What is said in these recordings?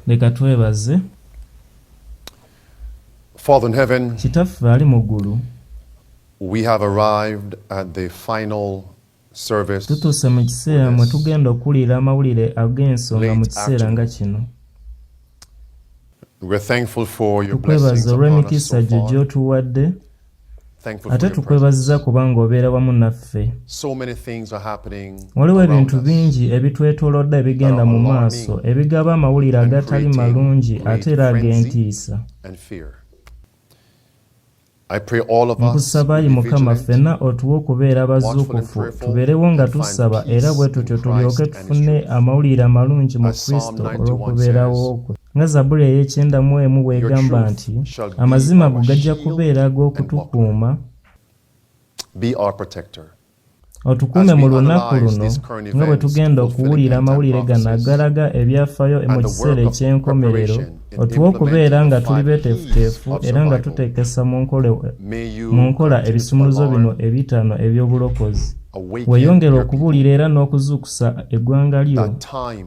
leka twebaze Father in heaven, kitaffe ali mu ggulu we have arrived at the final service tutuuse mu kiseera mwe tugenda okuwulira amawulire ag'ensonga mu kiseera nga kino tukwebaza olw'emikisa gyo gy'otuwadde ate tukwebazza kubanga obeera wamu naffe waliwo ebintu bingi ebitwetolodde ebigenda mu maaso ebigaba amawulire agatali malungi ate era ag'entiisa nkusaba yi mukama ffenna otuwe okubeera bazuukufu tubeerewo nga tusaba era bwe tutyo tulyoke tufune amawulire amalungi mu kristo olw'okubeerawo kwe Nga Zabbuli ey'ekyenda mu emu bw'egamba nti, Amazima go gajja kubeera ag'okutukuuma. Otukuume mu lunaku luno nga bwe tugenda okuwulira amawulire gano agalaga ebyafaayo mu kiseera eky'enkomerero, otuwe okubeera nga tuli beeteefuteefu era nga tuteekesa mu nkola ebisumuluzo bino ebitaano eby'obulokozi. Weeyongere okubuulira era n'okuzuukusa eggwanga lyo.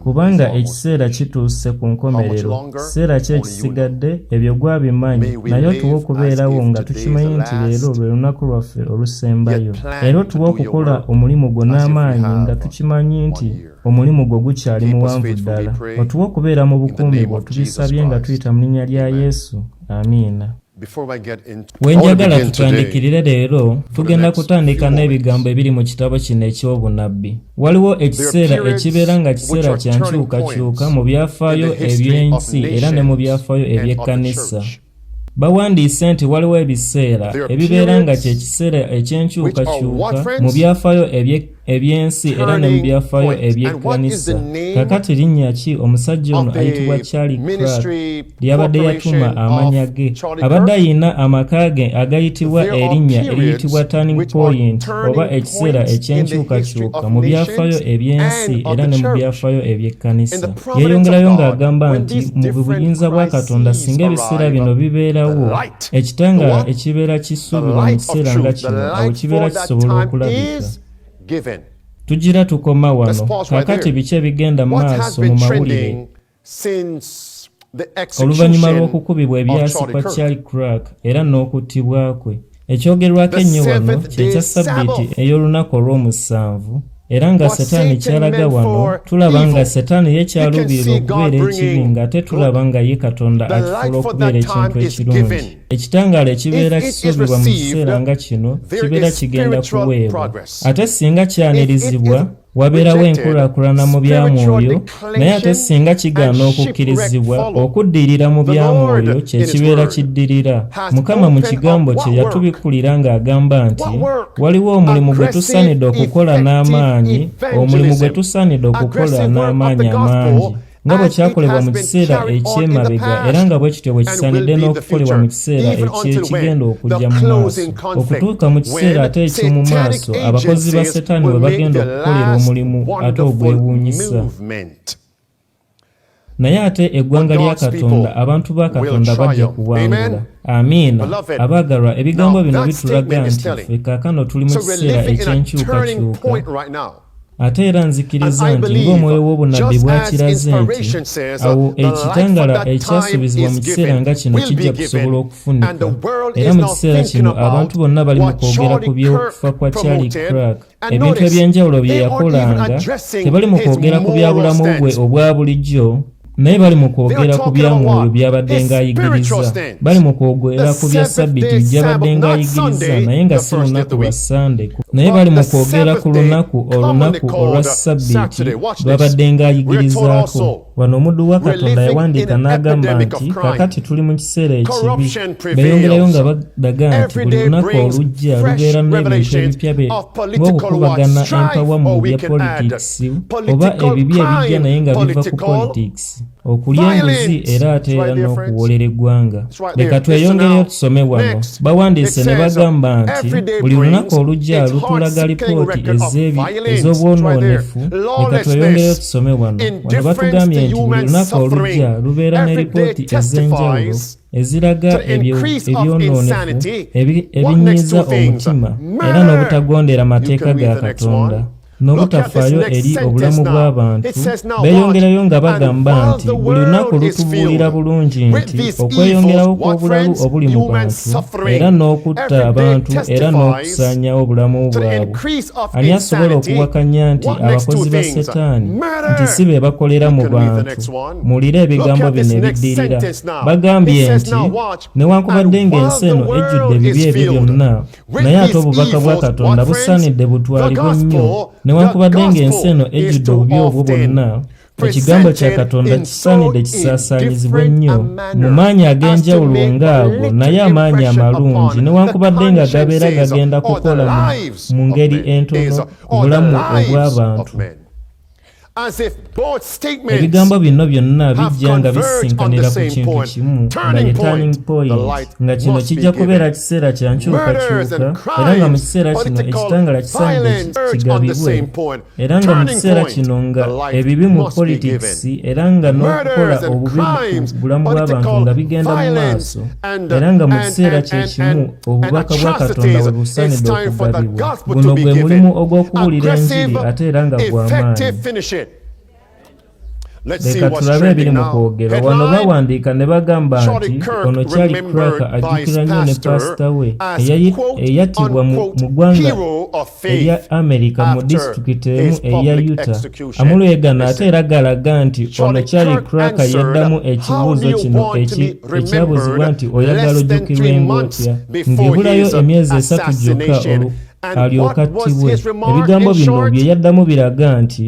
kubanga ekiseera kituuse ku nkomerero kiseera ki ekisigadde ebyo gwabimanyi naye otuwa okubeerawo nga tukimanyi nti leero lwe lunaku lwaffe olusembayo era otuwa okukola omulimu gwo n'amaanyi nga tukimanyi nti omulimu gwo gukyali muwanvu ddala otuwa okubeera mu bukuumi bwo tubisabye nga tuyita mu linnya lya yesu amiina we njagala tutandikirire leero tugenda kutandika n'ebigambo ebiri mu kitabo kino eky'obunabbi waliwo ekiseera ekibeera nga kiseera kya nkyukakyuka mu byafaayo eby'ensi era ne mu byafaayo eby'ekkanisa bawandiise nti waliwo ebiseera ebibeera nga kye kiseera eky'enkyukakyuka mu byafaayo eby'ekkanisa eby'ensi era ne mu byafaayo eby'ekkanisa kakati linnya ki omusajja ono ayitibwa charlie crack lyabadde yatuma amanya ge abadde ayina amaka ge agayitibwa erinnya eriyitibwa turning point oba ekiseera eky'enkyukakyuka mu byafaayo eby'ensi era ne mu byafaayo eby'ekkanisa yeeyongerayo ng'agamba nti mu buyinza bwa katonda singa ebiseera bino bibeerawo ekitanga ekibeera kisuubirwa mu kiseera nga kino awo kibeera kisobola okulabika tugira tukoma wano kakati biki ebigenda mu maaso mu mawulire oluvannyuma lw'okukubibwa ebyasi kwa charlie crack era n'okuttibwa kwe ekyogerwako ennyo wano kyekya ssabbiiti ey'olunaku olw'omusanvu era nga setaani kyalaga wano tulaba nga setaani ye kyaluubirira okubeera ekibi ng'ate tulaba nga ye katonda akifuula okubeera ekintu ekirungi ekitangaala ekibeera kisuubirwa mu kiseera nga kino kibeera kigenda kuweebwa ate singa kyanirizibwa wabeerawo enkulaakulana mu bya mwoyo Naye ate singa kigaana okukkirizibwa, okuddirira mu bya mwoyo kye kibeera kiddirira. Mukama mu kigambo kye yatubikkulira ng'agamba nti waliwo omulimu gwe tusaanidde okukola n'amaanyi, omulimu gwe tusaanidde okukola n'amaanyi amangi nga bwe kyakolebwa mu kiseera eky'emabega era nga bwe kityo bwe kisaanidde n'okukolebwa mu kiseera eky'ekigenda okujja mu maaso. okutuuka mu kiseera ate eky'omu maaso abakozi ba setaani we bagenda okukolera omulimu ate ogwewuunyisa naye ate eggwanga lya katonda abantu ba katonda bajja kuwangula amiina abaagalwa ebigambo bino bitulaga nti ffe kaakano tuli mu kiseera eky'enkyukakyuka ate era nzikiriza nti ng'omwoyo w'obunabbi bwakiraze nti awo ekitangala ekyasuubizibwa mu kiseera nga kino kijja kusobola okufunika era mu kiseera kino abantu bonna bali mu kwogera ku by'okufa kwa charlie crack ebintu eby'enjawulo bye yakolanga tebali mu kwogera ku bya bulamu bwe obwa bulijjo naye bali mu kwogera ku bya mwoyo by'abadde ng'ayigiriza bali mu kwogera ku bya sabbiti gy'abadde ng'ayigiriza naye nga si lunaku lwa sande naye bali mu kwogera ku lunaku olunaku olwa sabbiti lw'abadde ng'ayigirizaako wano omuddu wa katonda yawandiika n'agamba nti kakati tuli mu kiseera ekibi beeyongerayo nga badaga nti buli lunaku olujja lubeera n'ebintu ebipya be ng'okukubagana empawa mu bya politics simu oba ebibi ebijja naye nga biva ku politics okulya enguzi era ate era n'okuwoolera eggwanga leka tweyongereyo tusome wano bawandiise ne bagamba nti buli lunaku olujja lutulaga lipooti ezeebi ez'obwonoonefu leka tweyongereyo tusome wano wano batugambye nti buli lunaku olujja lubeera ne lipooti ez'enjawulo eziraga ebyonoonefu ebinyiiza omutima era n'obutagondera mateeka ga katonda n'obutafaayo eri obulamu bw'abantu beeyongerayo nga bagamba nti buli lunaku lutubuulira bulungi nti okweyongerawo kw'obulalu obuli mu bantu era n'okutta abantu era n'okusaanyawo obulamu bwabwe ani asobola okuwakanya nti abakozi ba setaani nti si be bakolera mu bantu muwulire ebigambo bino ebiddirira bagambye nti newankubadde ng'ensi eno ejjudde ebibi ebyo byonna naye ate obubaka bwa katonda busaanidde butwalibwe nnyo newankubadde ng'ensi eno ejjudde obubi obwo bwonna ekigambo kya katonda kisaanidde kisaasaanyizibwe nnyo mu maanyi ag'enjawulo ng'ago naye amaanyi amalungi newankubadde nga gabeera gagenda kukola mu ngeri entono obulamu obw'abantu ebigambo bino byonna bijja nga bisisinkanira ku kintu kimu nga ye turning point nga kino kijja kubeera kiseera kya nkyukakyuka era nga mu kiseera kino ekitangala kisaanidde kigabibwe era nga mu kiseera kino nga ebibi mu politics era nga n'okukola obubi mu bulamu bw'abantu nga bigenda mu maaso era nga mu kiseera kye kimu obubaka bwa katonda we busaanidde okugabibwa guno gwe mulimu ogw'okubuulira enjiri ate era nga gw'amaanyi leka tulabe ebiri mu kwogera wano bawandiika ne bagamba nti ono kyali kraka ajjukira nnyo ne paasita we eyattibwa mu ggwanga ebya amerika mu disitulikiti emu eya uta amulwegana ate era galaga nti ono charlie cracker yaddamu ekibuuzo kino ekyabuzibwa nti oyagala ojjukirwa engootya ng'ebulayo emyezi esatu gyokka alyoka attibwe ebigambo bino bye yaddamu biraga nti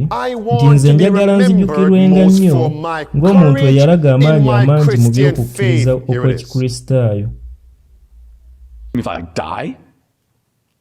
nti nze njagala nzijukirwenga nnyo ng'omuntu eyalaga amaanyi amangi mu by'okukkiriza okw'ekikristaayo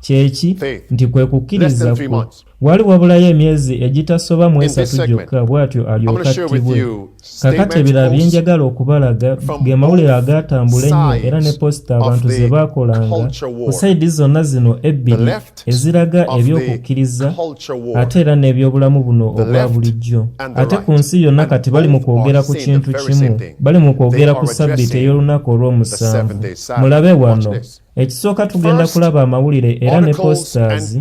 kyeki nti kwe kukkiriza kwo wali wabulayo emyezi egitasoba mu esatu gyokka bw'atyo alyoka attibwe kakati ebirala bye njagala okubalaga ge mawulire agaatambula ennyo era ne posita abantu ze baakolanga ku sayidi zonna zino ebbiri eziraga eby'okukkiriza ate era n'ebyobulamu buno obwa bulijjo ate ku nsi yonna kati bali mu kwogera ku kintu kimu bali mu kwogera ku sabbiiti ey'olunaku olw'omusanvu mulabe wano ekisooka tugenda kulaba amawulire era ne posters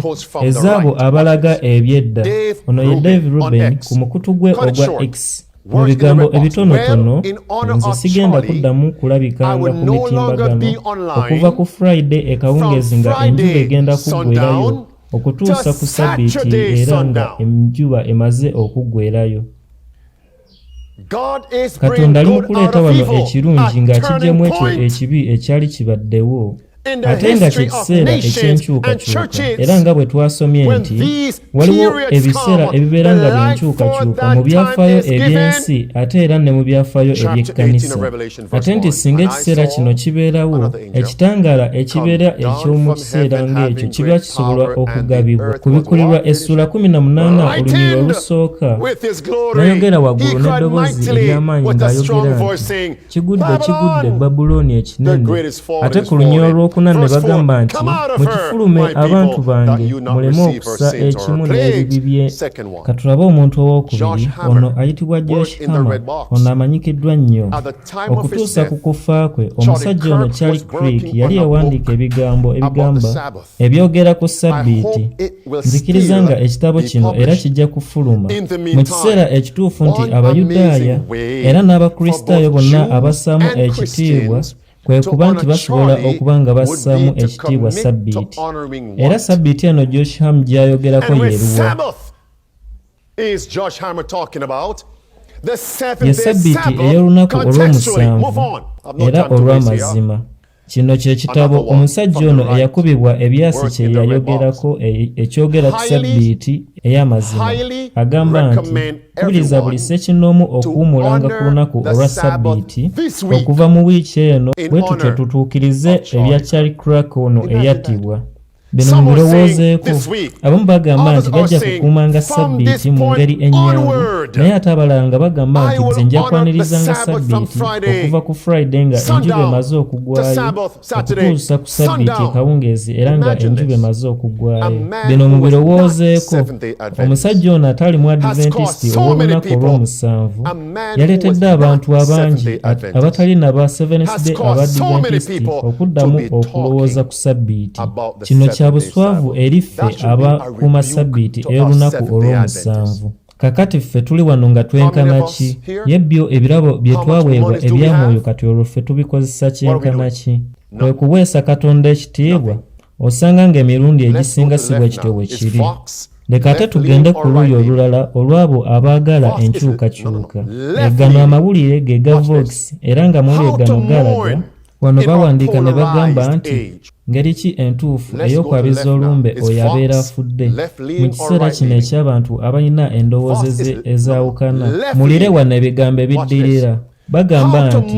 ezaabo abalaga ebyedda ono ye dave ruben ku mukutu gwe ogwa x mu bigambo ebitonotono nze sigenda kuddamu kulabikanga ku mitimbagano okuva ku friday ekawungeezi nga enjuba egenda kuggwerayo okutuusa ku sabbiiti era nga enjuba emaze okuggwerayo katonda ali mu kuleeta wano ekirungi ng'akijjamu ekyo ekibi ekyali kibaddewo ate nga kye kiseera eky'enkyukakyuka era nga bwe twasomye nti waliwo ebiseera ebibeera nga byenkyukakyuka mu byafaayo eby'ensi ate era ne mu byafaayo eby'ekkanisa ate nti singa ekiseera kino kibeerawo ekitangaala ekibeera eky'omu kiseera ng'ekyo kiba kisobola okugabibwa ku bikulirwa essuula 18 olunyiro olusooka nayogera waggulu n'eddoboozi ery'amaanyi ng'ayogera nti kigudde kigudde babulooni ekinene ate ku lunya olwokuna ne bagamba nti mukifulume abantu bange muleme okusa ekimu n'ebibi bye katulabe omuntu ow'okubiri ono ayitibwa josh hama ono amanyikiddwa nnyo okutuusa ku kufa kwe omusajja ono charlie creek yali yawandiika ebigambo ebigamba ebyogera ku ssabbiiti nzikiriza nga ekitabo kino era kijja kufuluma mu kiseera ekituufu nti abayudaaya era n'abakristaayo bonna abassaamu ekitiibwa kwe kuba nti basobola okuba nga bassaamu ekitiibwa ssabbiiti era ssabbiiti eno joshamu gy'ayogerako yeeruwa ye ssabbiiti ey'olunaku olw'omusanvu era olw'amazima Kino kye kitabo omusajja ono eyakubibwa ebyasi kye yayogerako e, ekyogera ku sabbiiti ey'amazima agamba nti kubiriza buli ssekinnoomu okuwumulanga ku lunaku olwa sabbiiti okuva mu wiiki eno bwe tutyo tutuukirize ebya charlie crack ono eyattibwa bino mubirowoozeeko abamu bagamba nti bajja kukuumanga ssabbiiti mu ngeri ennyangu naye ate abalala nga bagamba nti nze nja kwanirizanga ssabbiiti okuva ku friday nga enjuba emaze okugwayo okutuusa ku ssabbiiti ekawungeezi era nga enjuba emaze okugwayo bino mubirowoozeeko omusajja ono atali mu adventisiti ow'olunaku olw'omusanvu yaleetedde abantu abangi abatali naba seventh day abadventisiti okuddamu okulowooza ku ssabbiiti kino kya buswavu eri ffe aba kuuma ssabbiiti ey'olunaku olw'omusanvu kakati ffe tuli wano nga twenkana ki ye byo ebirabo bye twaweebwa ebya mwoyo kati olwo ffe tubikozesa kyenkana ki kwe kuweesa katonda ekitiibwa osanga ng'emirundi egisinga si bwe kityo bwe kiri leka ate tugende ku luuyi olulala olw'abo abaagala enkyukakyuka egano amawulire ge ga vox era nga mweri egano galaga Wano bawandiika ne bagamba nti ngeri ki entuufu ey'okwabiza olumbe oyo abeera afudde mu kiseera kino eky'abantu abalina endowooza ezaawukana mulire wano ebigambo ebiddirira bagamba nti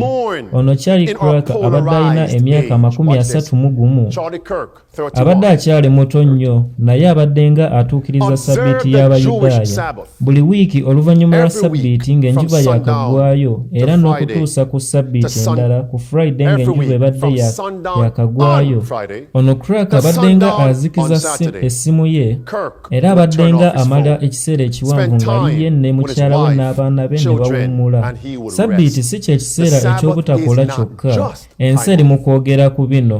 ono charlie crack abadde alina emyaka amakumi asatu mu gumu abadde akyali muto nnyo naye abaddenga atuukiriza sabbiiti y'abayudaaya buli wiiki oluvannyuma lwa sabbiiti ng'enjuba yakagwayo era n'okutuusa ku sabbiiti endala ku friday ng'enjuba ebadde yakagwayo ono crack abaddenga azikiza essimu ye era abaddenga amala ekiseera ekiwanvu ng'aliye ne mukyala we n'abaana be ne bawummula sabbiiti si kye kiseera eky'obutakola kyokka ensi eri mu kwogera ku bino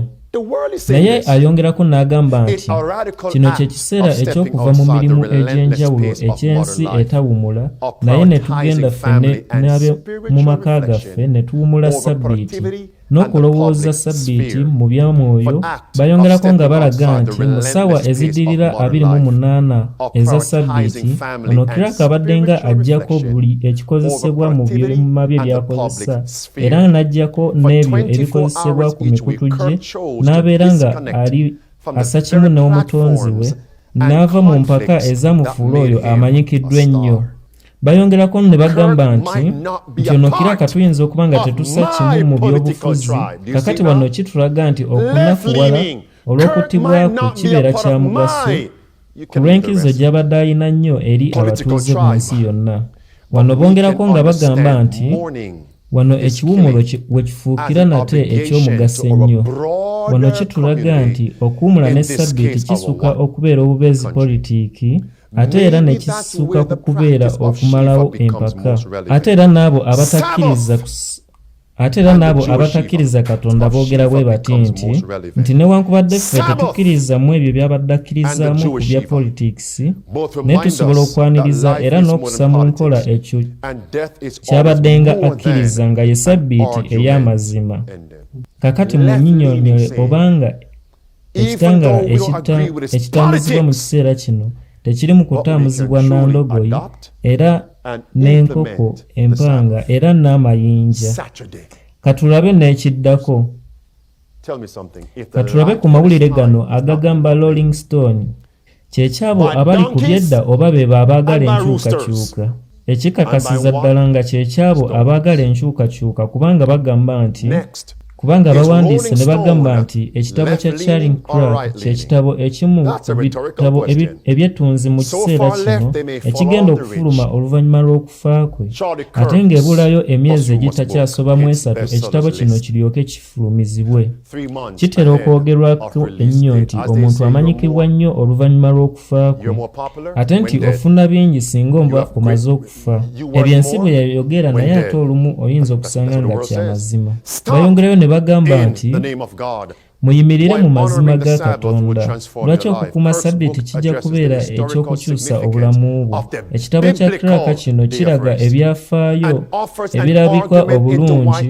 naye ayongerako n'agamba nti kino kye kiseera eky'okuva mu mirimu egy'enjawulo eky'ensi etawumula naye ne tugenda ffene n'abe mu maka gaffe ne tuwumula ssabbiiti n'okulowooza ssabbiiti mu byamwoyo bayongerako nga balaga nti mu ssaawa ezidirira 28 eza ssabbiiti ono kiraka abaddenga ajjako buli ekikozesebwa mu byuma bye byakozesa era nga n'aggyako n'ebyo ebikozesebwa ku mikutu gye n'abeera nga ali assa kimu n'omutonzi we n'ava mu mpaka ezamufuula oyo amanyikiddwa ennyo bayongerako ne bagamba nti nti ono kira katuyinza okuba nga tetussa kimu mu byobufuzi kakati wano kitulaga nti okunafuwala olw'okuttibwako kibeera kya mugaso ku lw'enkizo gy'abadde alina nnyo eri abatuuze mu nsi yonna wano bongerako nga bagamba nti wano ekiwumulo we kifuukira nate eky'omugaso ennyo wano kitulaga nti okuwumula ne ssabbiiti kisuka okubeera obubeezi politiiki ate era ne kisuka ku kubeera okumalawo empaka ate era n'abo abatakkiriza ate era n'abo abatakkiriza katonda boogera bwe bati nti nti newankubadde ffe tetukkiriza mu ebyo byabadde akkirizaamu ku bya politikisi naye tusobola okwaniriza era n'okusa mu nkola ekyo kyabadde nga akkiriza nga ye sabbiiti ey'amazima kakati munyinyonyole obanga ekitangaala ekitambuzibwa mu kiseera kino tekiri mu kutambuzibwa na ndogoyi era n'enkoko empanga era n'amayinja katulabe n'ekiddako katulabe ku mawulire gano agagamba rolling stone kyekyabo abali ku byedda oba bebo abaagala enkyukakyuka ekikakasiza ddala nga kyekyabo abaagala enkyukakyuka kubanga bagamba nti kubanga abawandiise ne bagamba nti ekitabo kya charing crag kyekitabo ekimu bitabo ebyettunzi mu kiseera kino ekigenda okufuluma oluvannyuma lw'okufa kwe ate ng'ebulayo emyezi egitakyasobamu esatu ekitabo kino kiryoke kifu tulumizibwe. Kitera okwogerwako ennyo nti omuntu amanyikibwa nnyo oluvannyuma lw'okufa kwe, ate nti ofuna bingi singa oba omaze okufa. Ebyo ensi bwe yayogera, naye ate olumu oyinza okusanga nga kya mazima. Bayongerayo ne bagamba nti, Muyimirire mu mazima ga Katonda. lwaki okukuuma ssabbiiti kijja kubeera eky'okukyusa obulamu bwo ekitabo kya traka kino kiraga ebyafaayo ebirabika obulungi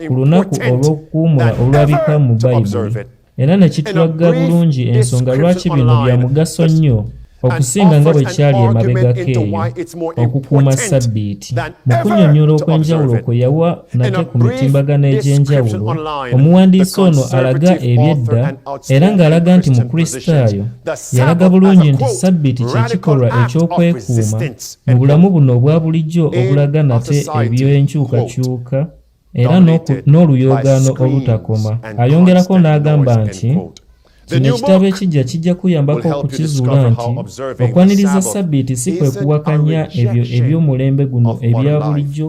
ku lunaku olw'okukuumula olulabika mu bayibuli era ne kitulagga bulungi ensonga lwaki bino bya mugaso nnyo okusinga nga bwe kyali emabegako eyo okukuuma ssabbiiti mu kunnyonnyola okw'enjawulo kwe yawa nate ku mitimbagano egy'enjawulo omuwandiisi ono alaga ebyedda era ng'alaga nti mukristaayo yalaga bulungi nti sabbiiti kye kikolwa eky'okwekuuma mu bulamu buno obwa bulijjo obulaga nate eby'enkyukakyuka era n'oluyoogaano olutakoma ayongerako n'agamba nti kino ekitabo ekijja kijja kuyambako okukizuula nti okwaniriza sabbiiti si kwe kuwakanya ebyo eby'omulembe guno ebya bulijjo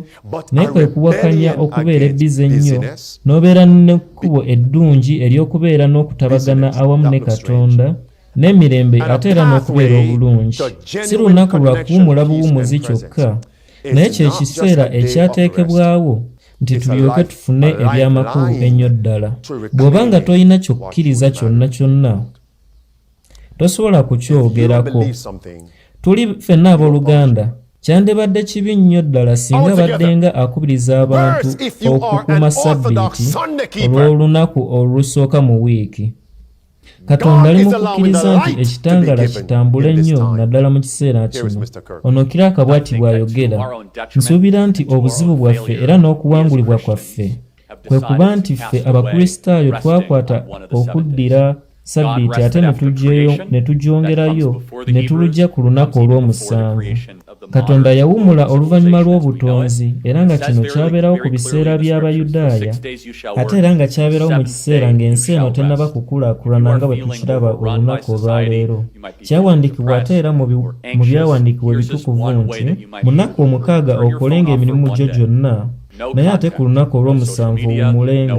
naye kwe kuwakanya okubeera ebbize ennyo n'obeera n'ekkubo eddungi ery'okubeera n'okutabagana awamu ne katonda n'emirembe ate era n'okubeera obulungi si lunaku lwa kuwumula buwumuzi kyokka naye kye kiseera ekyateekebwawo nti tulyoke tufune eby'amakulu ennyo ddala bw'oba nga tolina kyokkiriza kyonna kyonna tosobola kukyogerako tuli ffenna ab'oluganda kyandibadde kibi nnyo ddala singa baddenga akubiriza abantu okukuuma ssabbiiti olw'olunaku olusooka mu wiiki katonda ali mu kukkiriza nti ekitangaala kitambule nnyo naddala mu kiseera kino ono kira akabwati bw'ayogera nsuubira nti obuzibu bwaffe era n'okuwangulibwa kwaffe kwe kuba nti ffe abakristaayo twakwata okuddira sabbiiti ate ne tugyongerayo ne tulujja ku lunaku olw'omusanvu katonda yawumula oluvannyuma lw'obutonzi era nga kino kyabeerawo ku biseera by'abayudaaya ate era nga kyabeerawo mu kiseera ng'ensi eno tennaba kukulaakulana nga bwe tukiraba olunaku olwaleero kyawandiikibwa ate era mu byawandiikibwa ebitukuvu nti mu nnaku omukaaga okolenga emirimu gyo gyonna naye ate ku lunaku olw'omusanvu owummulenga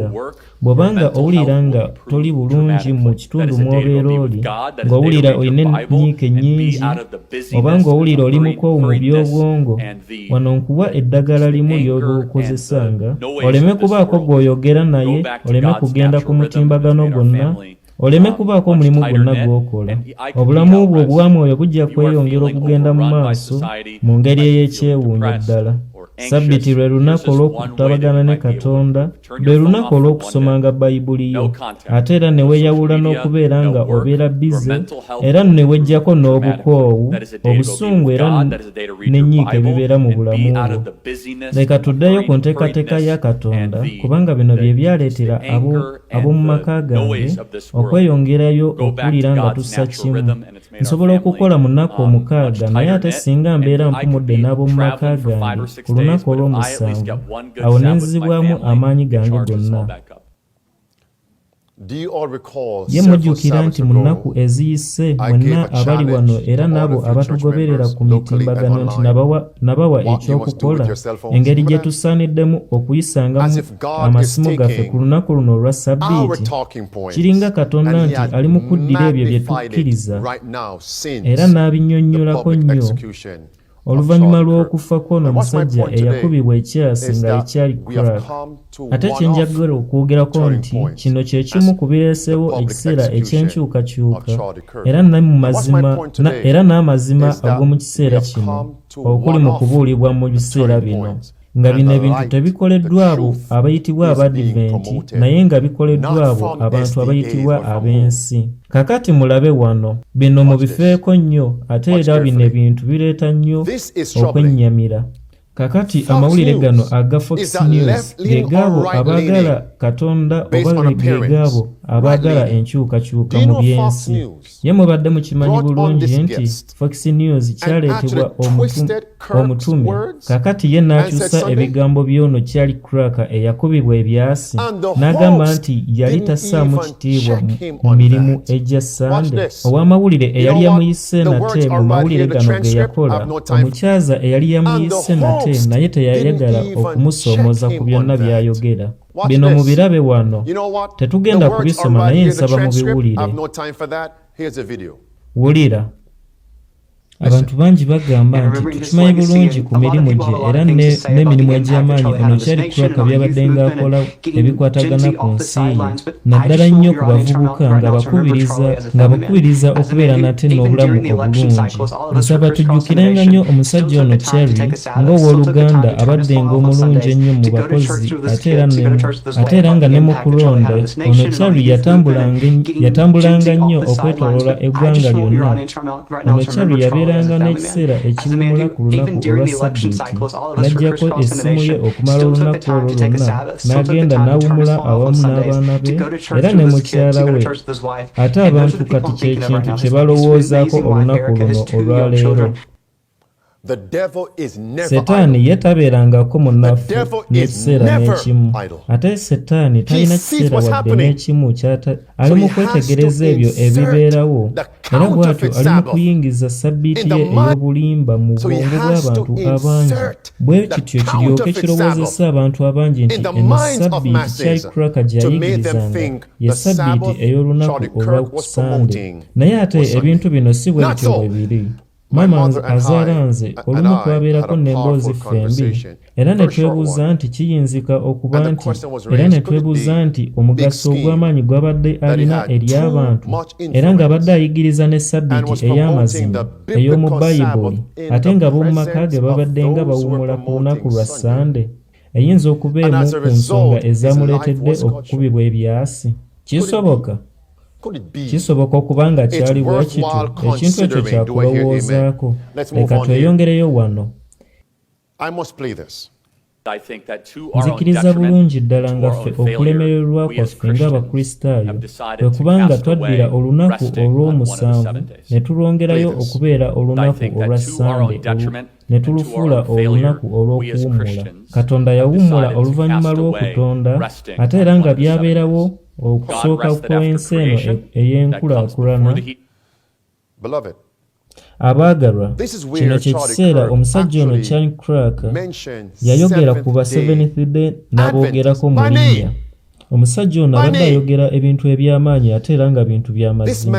bw'oba nga owulira nga toli bulungi mu kitundu mw'obeera oli ng'owulira olina ennyiike nnyingi oba ng'owulira oli mukoowu mu by'obwongo wano nkuwa eddagala limu ly'oba okozesanga oleme kubaako gw'oyogera naye oleme kugenda ku mutimbagano gwonna oleme um, kubaako omulimu gwonna gw'okola obulamu bwo obwa mwoyo bujja kweyongera okugenda mu maaso mu ngeri ey'ekyewuunyo ddala sabbiti lwe lunaku olw'okutabagana ne katonda lwe lunaku olw'okusomanga bayibuli yo ate era ne weeyawula n'okubeera nga obeera bize era ne weggyako n'obukoowu obusungu era n'ennyiika ebibeera mu bulamu bwo leka tuddeyo ku nteekateeka ya katonda kubanga bino bye byaleetera abo ab'omu maka gange okweyongerayo okuwulira nga tussa kimu nsobola okukola mu nnaku um, omukaaga naye ate singa mbeera mpumudde n'ab'omu maka gange ku lunaku olw'omusanvu awo ne nzizibwamu amaanyi gange gonna ye mujjukira nti mu nnaku eziyise mwenna abali wano era n'abo abatugoberera ku mitimbagano nti nabawa ekyokukola engeri gye tusaaniddemu okuyisangamu amasimu gaffe ku lunaku luno olwa ssabbiiti kiringa katonda nti ali mu kuddira ebyo bye tukkiriza era n'abinnyonnyolako nnyo oluvannyuma lw'okufa kw'ono omusajja eyakubibwa ekyasi nga ekyali crack ate kye njagala okwogerako nti kino kye kimu ku bireesewo ekiseera eky'enkyukakyuka era n'amazima ag'omu kiseera kino okuli mu kubuulibwa mu biseera bino nga bino ebintu tebikoleddwa abo abayitibwa abadiventi naye nga bikoleddwa abo abantu abayitibwa ab'ensi kakati mulabe wano bino mubifeeko nnyo ate era bino ebintu bireeta nnyo okwennyamira kakati amawulire gano aga fox news ge gaabo abaagala katonda oba ge gaabo abaagala enkyukakyuka mu by'ensi Ye mubadde mukimanyi bulungi nti Fox News kyaleetebwa omutume, kakati ye n'akyusa ebigambo by'ono Charlie Crack eyakubibwa ebyasi n'agamba nti yali tassaamu kitiibwa mu mirimu egya Ssande. Ow'amawulire eyali yamuyise nate mu mawulire gano ge yakola, omukyaza eyali yamuyise nate naye teyayagala okumusoomoza ku byonna by'ayogera. bino mubirabe wano tetugenda kubisoma naye nsaba mubiwulire wulira abantu bangi bagamba nti tukimanyi bulungi ku mirimu gye era n'emirimu egy'amaanyi ono kyali kulaka byabadde ng'akola ebikwatagana ku nsi ye naddala nnyo ku bavubuka ng'abakubiriza okubeera nate n'obulamu obulungi nsaba tujjukirenga nnyo omusajja ono cherry ng'ow'oluganda abaddenga omulungi ennyo mu bakozi ate era nga ne mu kulonda ono charli yatambulanga nnyo okwetoloola eggwanga lyonna ono charli yabeeranga n'ekiseera ekiwumula ku lunaku olwa sabbiiti n'aggyako essimu ye okumala olunaku olwo lwonna n'agenda n'awumula awamu n'abaana be era ne mukyala we ate abantu kati kye kintu kye balowoozaako olunaku luno olwaleero setaani ye tabeerangako munaffe n'ekiseera n'ekimu ate setaani talina kiseera wadde n'ekimu ali mu kwetegereza ebyo ebibeerawo era bw'atyo ali mu kuyingiza sabbiiti ye ey'obulimba mu bwongo bw'abantu abangi bwe kityo kiryoke kirowoozesa abantu abangi nti eno sabbiiti kyali kuraka gyayigirizanga ye sabbiiti ey'olunaku olwa kusande naye ate ebintu bino si bwe bityo bwe biri maama wange azaala nze olumu twabeerako n'emboozi ffembi era ne twebuuza nti kiyinzika okuba nti era ne twebuuza nti omugaso ogw'amaanyi gw'abadde alina eri abantu era ng'abadde ayigiriza ne sabbiiti ey'amazima ey'omu bayibuli ate nga b'omu maka ge babadde nga bawummula ku lunaku lwa ssande eyinza okuba emu ku nsonga ezamuleetedde okukubibwa ebyasi kisoboka kisoboka okuba nga kyali bwe kitu ekintu ekyo kyakulowoozaako leka tweyongereyo wano nzikiriza bulungi ddala nga ffe okulemererwa kwaffe ng'abakristaayo kwe kubanga twaddira olunaku olw'omusanvu ne tulwongerayo okubeera olunaku olwa ssande ne tulufuula olunaku olw'okuwummula katonda yawummula oluvannyuma lw'okutonda ate era nga byabeerawo okusooka kw'ensi eno e-, ey'enkulaakulana abaagalwa kino kye kiseera omusajja ono chan crack yayogera ku ba seventh day n'aboogerako mu linnya omusajja ono abadde ayogera ebintu eby'amaanyi ate era nga bintu by'amazima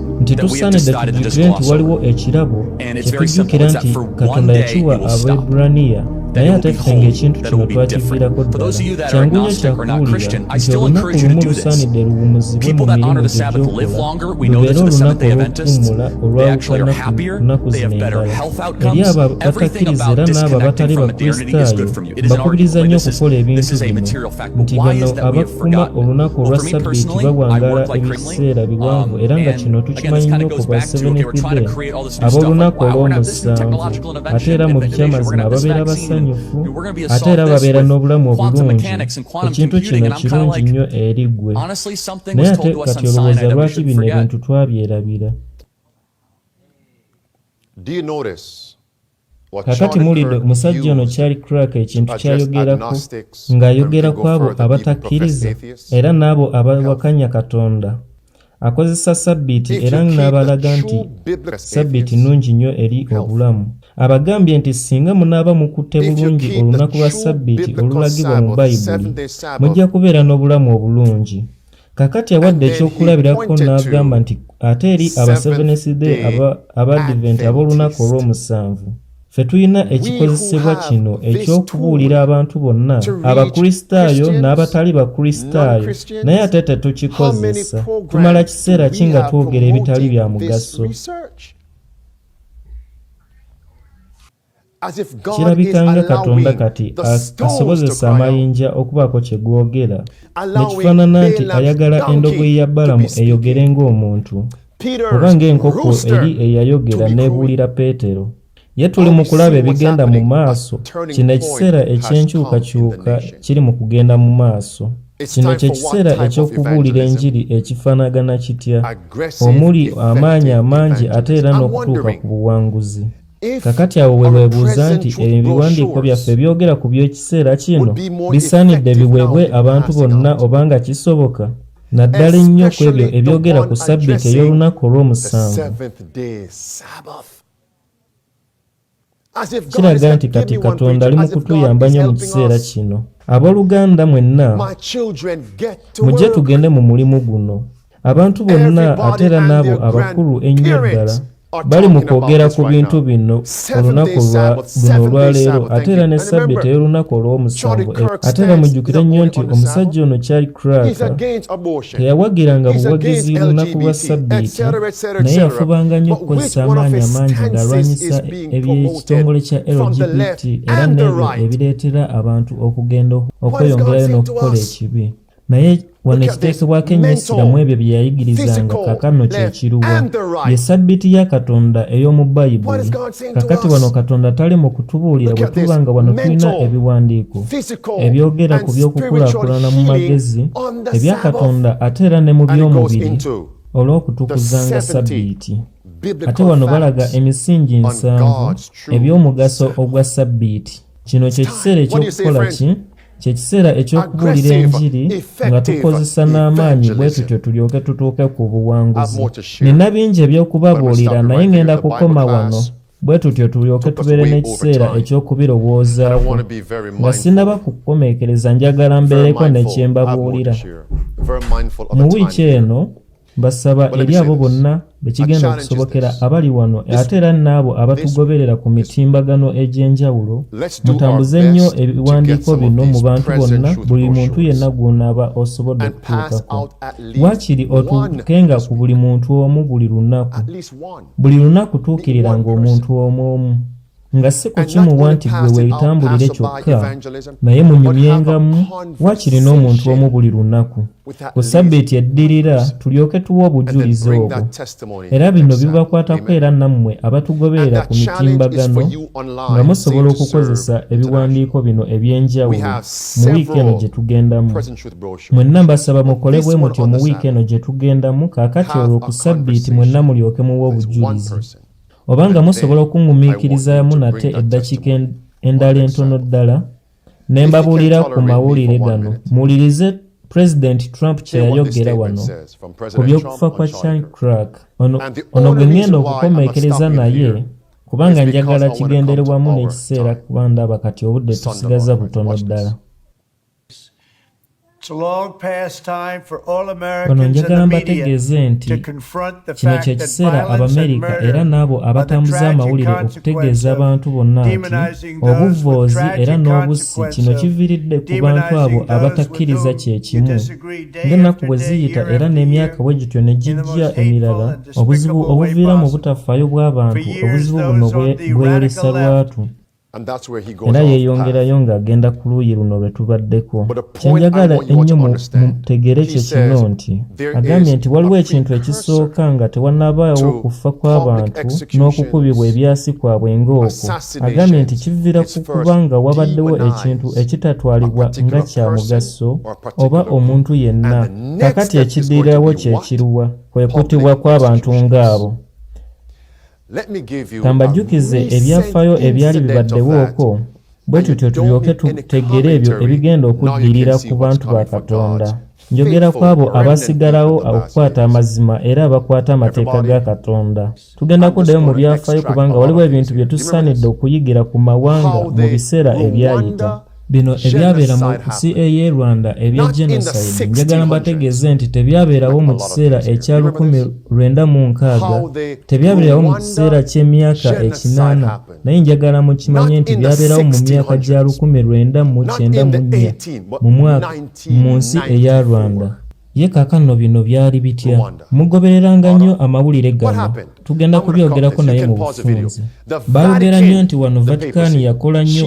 nti tusaanidde tujjukire nti waliwo ekirabo kye tujjukira nti katonda yakiwa abaeburaniya naye ate ffe ng'ekintu kino twakiviirako ddala kyangu nnyo kyakuwulira nti olunaku lumu lusaanidde luwumuzibwe mu mirimu gyegyokola lubeere olunaku olw'okuwummula olwawukanaku zino endala eri abo abatakkiriza era n'abo abatali bakristaayo bakubiriza nnyo okukola ebintu bino nti bano abakuma olunaku olwa ssabbiiti bawangaala ebiseera biwanvu um, era nga kino tukimanyi nnyo ku ba sebenepide ab'olunaku olw'omusanvu ate era mu bikyamazima babeera basanyufu ate era babeera n'obulamu obulungi ekintu kino kirungi nnyo eri ggwe naye ate kati olowooza lwaki bino ebintu twabyerabira kakati mulidde omusajja ono kyali crack ekintu kyayogerako ng'ayogera ku abo abatakkiriza era n'abo abawakanya katonda akozesa sabbiiti era n'abalaga nti sabbiiti nnungi nnyo eri obulamu abagambye nti singa munaaba mukutte bulungi olunaku lwa sabbiiti olulagibwa mu bayibuli mujja kubeera n'obulamu obulungi kakati awadde ekyokulabirako n'agamba nti ate eri abaseveneside abadiventi ab'olunaku olw'omusanvu ffe tulina ekikozesebwa kino eky'okubuulira abantu bonna abakristaayo n'abatali bakristaayo naye ate tetukikozesa tumala kiseera ki nga twogera ebitali bya mugaso kirabika nga katonda kati asobozesa amayinja okubaako kye googera ne kifaanana nti ayagala endogoyi ya balamu eyogere ng'omuntu oba ng'enkoko eri eyayogera n'ebuulira peetero ye tuli mu kulaba ebigenda mu maaso kino ekiseera eky'enkyukakyuka kiri mu kugenda mu maaso kino kye kiseera eky'okubuulira enjiri ekifaanagana kitya omuli amaanyi amangi ate era n'okutuuka ku buwanguzi kakati awo we lwebuuza nti ebyo ebiwandiiko byaffe byogera ku by'ekiseera kino bisaanidde biweebwe abantu bonna obanga kisoboka naddala ennyo ku ebyo ebyogera ku sabbiiti ey'olunaku olw'omusanvu kiraga nti kati katonda ali mu kutuyamba nnyo mu kiseera kino abooluganda mwenna mujje tugende mu mulimu guno abantu bonna ate era n'abo abakulu ennyo ddala bali mu kwogera ku bintu bino olunaku lwa buno olwaleero ate era ne sabbiti ey'olunaku olw'omusanvu ate era mujjukire nnyo nti omusajja ono kyali kraka teyawagiranga buwagizi lunaku lwa sabbiti naye yafubanga nnyo okukozesa amaanyi amangi ng'alwanyisa eby'ekitongole kya lgbt era n'ebyo ebireetera abantu okugenda okweyongerayo n'okukola ekibi naye wano ekiteekebwako ennyo essira mu ebyo bye yayigirizanga kakano kye kiruwa ye ssabbiiti ya katonda ey'omu bayibuli kakati wano katonda tali mu kutubuulira bwe tuba nga wano tulina ebiwandiiko ebyogera ku by'okukulaakulana mu magezi ebya katonda ate era ne mu by'omubiri olw'okutukuzanga ssabbiiti ate wano balaga emisingi nsanvu eby'omugaso ogwa ssabbiiti kino kye kiseera eky'okukola ki kye kiseera eky'okubuulira enjiri nga tukozesa n'amaanyi bwe tutyo tulyoke tutuuke ku buwanguzi nina bingi eby'okubabuulira naye ŋŋenda kukoma wano bwe tutyo tulyoke tubeere n'ekiseera eky'okubirowoozaawo nga sinaba kukomeekereza njagala mbeereko ne kye mbabuulira mu wiiki eno basaba eri abo bonna bekigenda okusobokera abali wano ate era n'abo abatugoberera ku mitimbagano egy'enjawulo mutambuze nnyo ebiwandiiko bino mu bantu bonna buli muntu yenna gw'onaaba osobodde okutuukako waakiri otuukenga ku buli muntu omu buli lunaku buli lunaku tuukiriranga omuntu omu omu nga si kukimuwa nti gwe weetambulire kyokka naye munyumyengamu waakiri n'omuntu omu buli lunaku ku sabbiiti eddirira tulyoke tuwa obujulizi obwo era bino bibakwatako era nammwe abatugoberera ku mitimbagano nga musobola okukozesa ebiwandiiko bino eby'enjawulo mu wiiki eno gye tugendamu mwenna mbasaba mukole bwe mutyo mu wiiki eno gye tugendamu kaakati olwo ku sabbiiti mwenna mulyoke muwa obujulizi obanga musobola okungumiikirizaamu nate eddakiika endala entono ddala ne mbabuulira ku mawulire gano muwulirize pulezidenti trump kye yayogera wano ku by'okufa kwa chan crack ono gwe ŋŋenda okukomeekereza naye kubanga njagala kigenderebwamu n'ekiseera kuba ndaba kati obudde tusigaza butono ddala bano njagala mbategeeze nti kino kye kiseera abamerika era n'abo abatambuza amawulire okutegeeza abantu bonna nti obuvvoozi era n'obussi kino kiviiridde ku bantu abo abatakkiriza kye kimu ng'ennaku bwe ziyita era n'emyaka bwe gityo ne gijja emirala obuzibu obuviira mu butafaayo bw'abantu obuzibu buno bweyolesa lwatu era yeeyongerayo ng'agenda ku luuyi luno lwe tubaddeko kye njagala ennyo mutegeere kye kino nti agambye nti waliwo ekintu ekisooka nga tewannabaawo kufa kw'abantu n'okukubibwa ebyasi kwabwe ng'okwo agambye nti kiviira ku kuba nga wabaddewo ekintu ekitatwalibwa nga kya mugaso oba omuntu yenna kakati ekidiirawo kye kiruwa kwe kutibwa kw'abantu ng'abo kambajjukize ebyafayo ebyali bibaddewooko bwe tutyo tulyoke tutegeere ebyo ebigenda okuddirira ku bantu ba katonda njogera ku abo abasigalawo okukwata amazima era abakwata amateeka ga katonda tugenda kuddayo mu byafaayo kubanga waliwo ebintu bye tusaanidde okuyigira ku mawanga mu biseera ebyayita bino ebyabeera mu CAA Rwanda ebya genocide njagala mbategeeze nti tebyabeerawo mu kiseera ekya lukumi lwenda mu nkaaga tebyabeerawo mu kiseera ky'emyaka ekinaana naye njagala mukimanye nti byabeerawo mu myaka gya lukumi lwenda mu kyenda mu nnya mu mwaka mu nsi eya Rwanda ye kaakano bino byali bitya mugobereranga nnyo amawulire gano tugenda kubyogerako naye mu bufunzi baayogera nnyo nti wano vatikaani yakola nnyo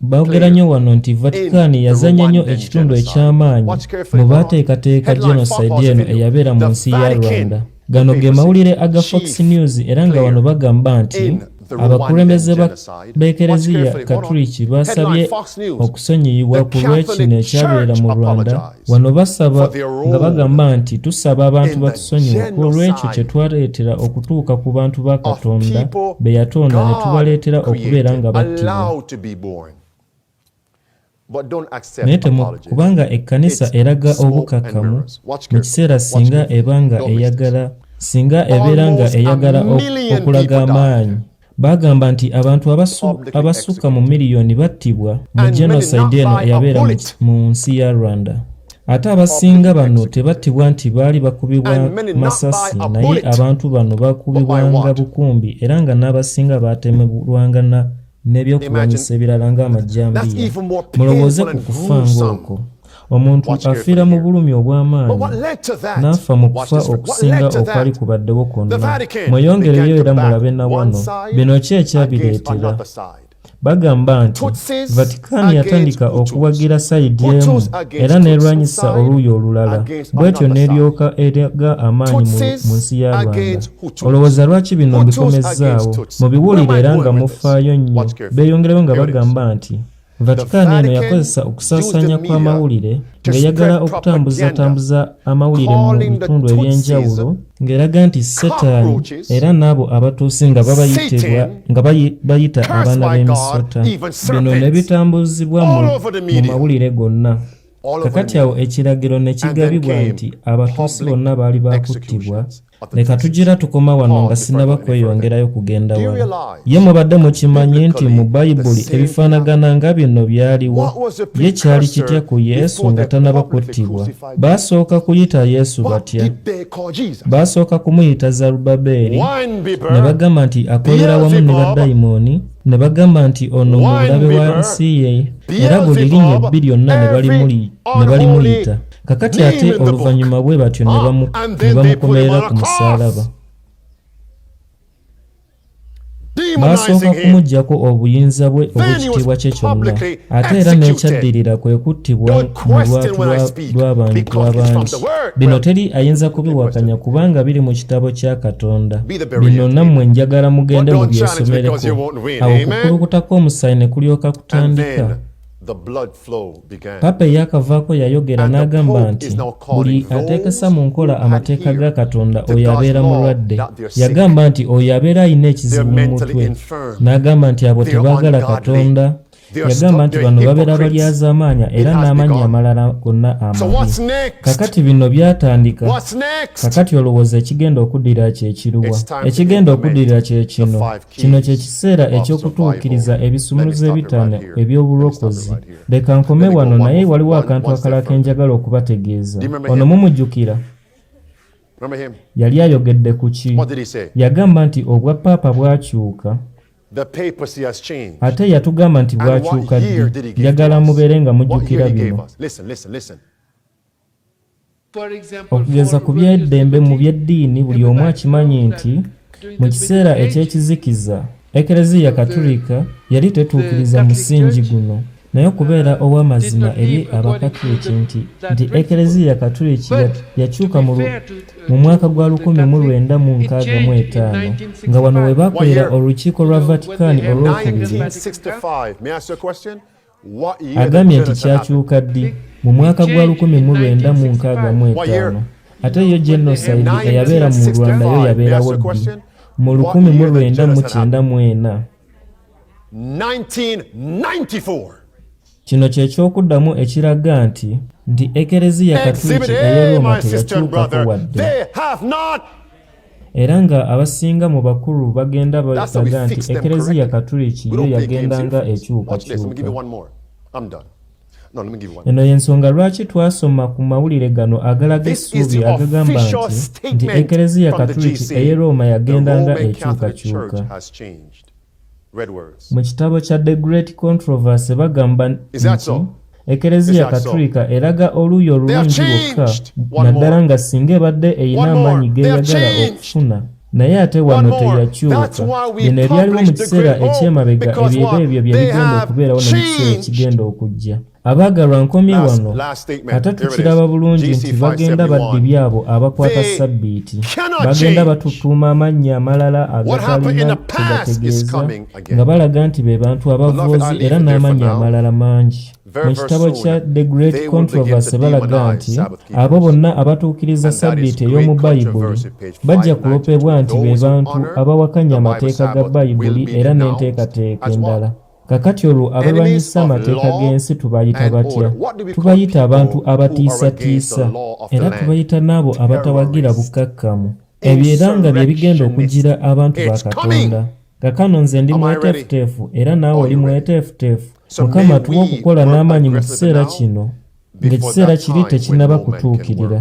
Baogera nnyo wano nti Vatican yazanya nnyo ekitundu eky'amaanyi mu baateekateeka genocide eno eyabeera mu nsi ya Rwanda. Gano ge mawulire aga Fox News era nga wano bagamba nti abakulembeze ba b'ekereziya katuliki baasabye okusonyiyibwa ku lw'ekino ekyabeera mu Rwanda Wano basaba nga bagamba nti tusaba abantu batusonyiwe olw'ekyo kye twaleetera okutuuka ku bantu ba Katonda be yatonda ne tubaleetera okubeera nga battibwa. Naye kubanga ekkanisa eraga obukkakkamu mu kiseera singa eba nga eyagala singa ebeera nga eyagala okulaga amaanyi Bagamba nti abantu abasukka mu miliyoni battibwa mu genocide eno eyabeera mu nsi ya Rwanda. Ate abasinga bano tebattibwa nti baali bakubibwa masasi naye abantu bano bakubibwanga bukumbi era nga n'abasinga baatemebwanga n'ebyokulwanyisa ebirala ng'amajjambiya. Mulowooze ku kufa ng'okwo! omuntu afiira mu bulumi obw'amaanyi n'afa mu kufa okusinga okwali kubaddewo kwonna mweyongereyo era mulabe na wano bino ki ekyabireetera bagamba nti vatikaani yatandika okuwagira sayidi emu era n'erwanyisa oluuyi olulala bwetyo n'eryoka eraga amaanyi mu nsi ya rwanda olowooza lwaki bino mbikomezzaawo mubiwulire era nga mufaayo nnyo beeyongereyo nga bagamba nti Vatican eno yakozesa okusaasaanya kw'amawulire ng'eyagala okutambuzatambuza amawulire mu bitundu eby'enjawulo ng'eraga nti setaani era n'abo abatuusi nga babayitibwa nga bayita abaana b'emisota bino ne bitambuzibwa mu mawulire gonna kakati awo ekiragiro ne kigabibwa nti abatuusi bonna baali baakuttibwa leka tugira tukoma wano nga sinaba kweyongerayo kugenda wala ye mubadde mukimanyi nti mu bayibuli ebifaanagana nga bino byaliwo ye kyali kitya ku yesu nga tanaba kuttibwa baasooka kuyita yesu batya baasooka kumuyita zarubabeeri ne bagamba nti akolera wamu ne badayimooni ne bagamba nti ono mulabe wa nsi ye era buli linya ebbiri yonna ne balimuyita kakati ate oluvannyuma bwe batyo ne ah, bamukomerera ku musaalaba baasooka kumuggyako obuyinza bwe obw'ekitiibwa kye kyonna ate era n'ekyaddirira kwe kuttibwa mu lwatu lw'abantu abangi bino teri ayinza kubiwakanya kubanga biri mu kitabo kya katonda bino nammwe njagala mugende mu byesomereko awo okukulukuta kw'omusaayi ne kulyoka kutandika Papa eyakavaako yayogera n'agamba nti buli ateekesa mu nkola amateeka ga Katonda oyo abeera mulwadde. Yagamba nti oyo abeera alina ekizibu mu mutwe, n'agamba nti abo tebaagala Katonda. Yagamba nti bano babeera balyazaamaanya era n'amannya amalala gonna amabi. Kakati bino byatandika. Kakati olowooza ekigenda okuddira kye kiruwa? Ekigenda okuddira kye kino. kino kye kiseera eky'okutuukiriza ebisumuluzo ebitaano eby'obulokozi leka nkome wano naye waliwo akantu akalala ke njagala okubategeeza ono mumujjukira yali ayogedde ku ki yagamba nti obwa paapa bwakyuka ate yatugamba nti bwakyuka ddi njagala mubeere nga mujjukira bino Okugeza ku by'eddembe mu by'eddiini, buli omu akimanyi nti mu kiseera eky'ekizikiza, Ekereziya Katulika yali tetuukiriza musingi guno. Naye okubeera ow'amazima eri Abakatuliki nti nti Ekereziya Katuliki yakyuka mu mwaka gwa lukumi mu lwenda mu nkaaga mu etaano, nga wano we baakolera Olukiiko lwa Vatican Olwokubiri. Agambye nti kyakyuka ddi mu mwaka gwa 1965 ate yo genocide eyabeera mu Rwanda yo yabeerawo ddi mu 1994. Kino kye ky'okuddamu ekiraga nti nti Ekereziya Katuliki ey'e Rooma teyakyukako wadde. era nga abasinga mu bakulu bagenda balaga nti ekereziya katuliki yo yagendanga ekyukakyuka eno y'ensonga lwaki twasoma ku mawulire gano agalaga essuubi agagamba nti nti ekereziya katuliki ey'e rooma yagendanga ekyukakyuka Mu kitabo kya The Great Controversy bagamba nti Ekereziya Katulika eraga oluuyi olulungi lwokka naddala nga singa ebadde erina amaanyi g'eyagala okufuna naye ate wano teyakyuka bino ebyaliwo mu kiseera eky'emabega ebyeba ebyo bye bigenda okubeerawo ne mu kiseera ekigenda okujja Abaagalwa nkomye wano ate tukiraba bulungi nti bagenda baddi byabo abakwata ssabbiiti bagenda batutuuma amannya amalala agatalina tegategeeza nga balaga nti be bantu abavoozi era n'amannya amalala mangi mu kitabo kya the great controversy balaga nti abo bonna abatuukiriza ssabbiiti ey'omu bayibuli bajja kulopebwa nti be bantu abawakanya amateeka ga bayibuli era n'enteekateeka endala Kakati olwo abalwanyisa amateeka g'ensi tubayita batya? Tubayita abantu abatiisatiisa, era tubayita n'abo abatawagira bukkakkamu. Ebyo era nga bye bigenda okugira abantu ba Katonda. Kakano nze ndi mweteefuteefu era naawe oli mweteefuteefu. Mukama tuwa okukola n'amaanyi mu kiseera kino, ng'ekiseera kiri tekinnaba kutuukirira.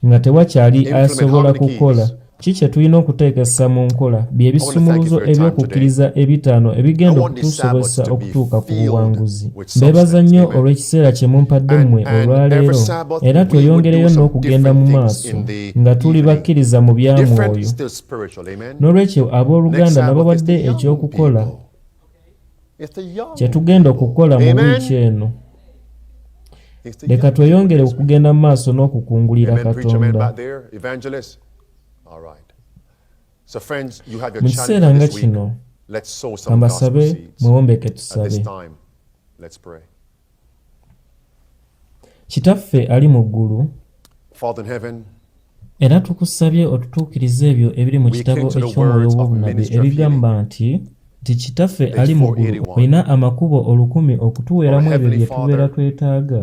nga tewakyali asobola kukola ki kye tulina okuteekesa mu nkola bye bisumuluzo eby'okukkiriza ebitaano ebigenda okutusobozesa okutuuka ku buwanguzi mbeebaza nnyo olw'ekiseera kye mumpadde mmwe olwaleero era tweyongereyo n'okugenda mu maaso nga tuli bakkiriza mu bya mwoyo n'olwekyo ab'oluganda nababadde eky'okukola kye tugenda okukola mu wiiki eno leka tweyongere okugenda mu maaso n'okukungulira katonda mu kiseera nga kino kambasabe mwewombeeke tusabe kitaffe ali mu ggulu era tukusabye otutuukirize ebyo ebiri mu kitabo eky'omwoyo w'obunabi ebigamba nti nti kitaffe ali mu ggulu olina amakubo olukumi okutuweeramu ebyo bye tubeera twetaaga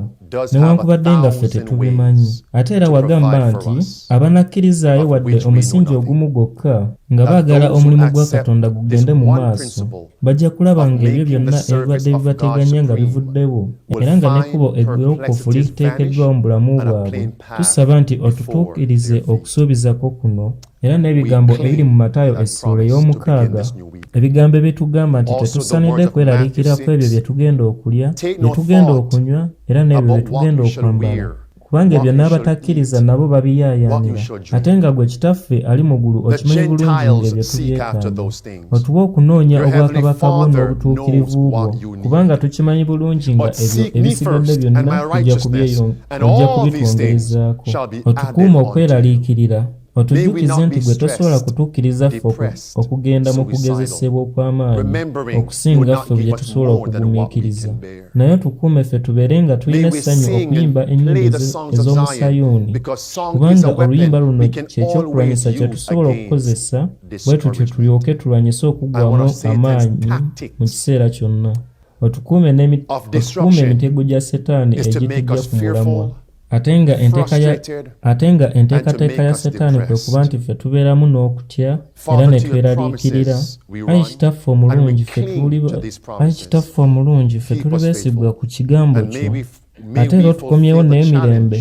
newankubadde nga ffe tetubimanyi ate era wagamba nti abanakkirizaayo wadde omusingi ogumu gwokka nga baagala omulimu gwa katonda gugende mu maaso bajja kulaba ng'ebyo byonna ebibadde bibateganya nga bivuddewo era nga n'ekkubo eggwewokofu liteekeddwawo mu bulamu bwabwe tusaba nti otutuukirize okusuubizako kuno era n'ebigambo ebiri mu matayo essuula ey'omukaaga ebigambo ebitugamba nti tetusanidde kweraliikira ku ebyo bye tugenda okulya bye tugenda okunywa era n'ebyo bye tugenda okwambala kubanga ebyo n'abatakkiriza nabo babiyaayaanira ate nga gwe kitaffe ali mu ggulu okimanyi bulungi ng'ebyo tubyekaana otuwa okunoonya obwakabaka bwo n'obutuukirivu bwo kubanga tukimanyi bulungi nga ebyo ebisigadde byonna ojja kubitwongerezaako otukuuma okweraliikirira otujjukize nti gwe tosobola kutukkiriza ffe okugenda mu kugezesebwa okw'amaanyi okusinga ffe bye tusobola okugumiikiriza naye otukuume ffe tubeere nga tulina essanyu okuyimba ennyimba ez'omu sayuuni kubanga oluyimba luno kyekyokulwanyisa kye tusobola okukozesa bwe tutyo tulyoke tulwanyise okuggwamu amaanyi mu kiseera kyonna otukuume emitego gya setaani egitujja ku mulamwa ate nga enteekateeka ya setaani kwe kuba nti ffe tubeeramu n'okutya era ne tweraliikirira ayi kitaffe omulungi ayi kitaffe omulungi ffe tuli beesigwa ku kigambo kyo ate era otukomyewo n'emirembe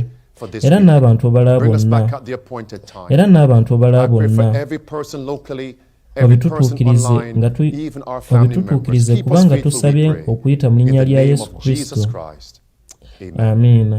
era n'abantu obala bonna era n'abantu obala bonna obitutuukirize nga obitutuukirize kubanga tusabye okuyita mu linnya lya yesu kristo amiina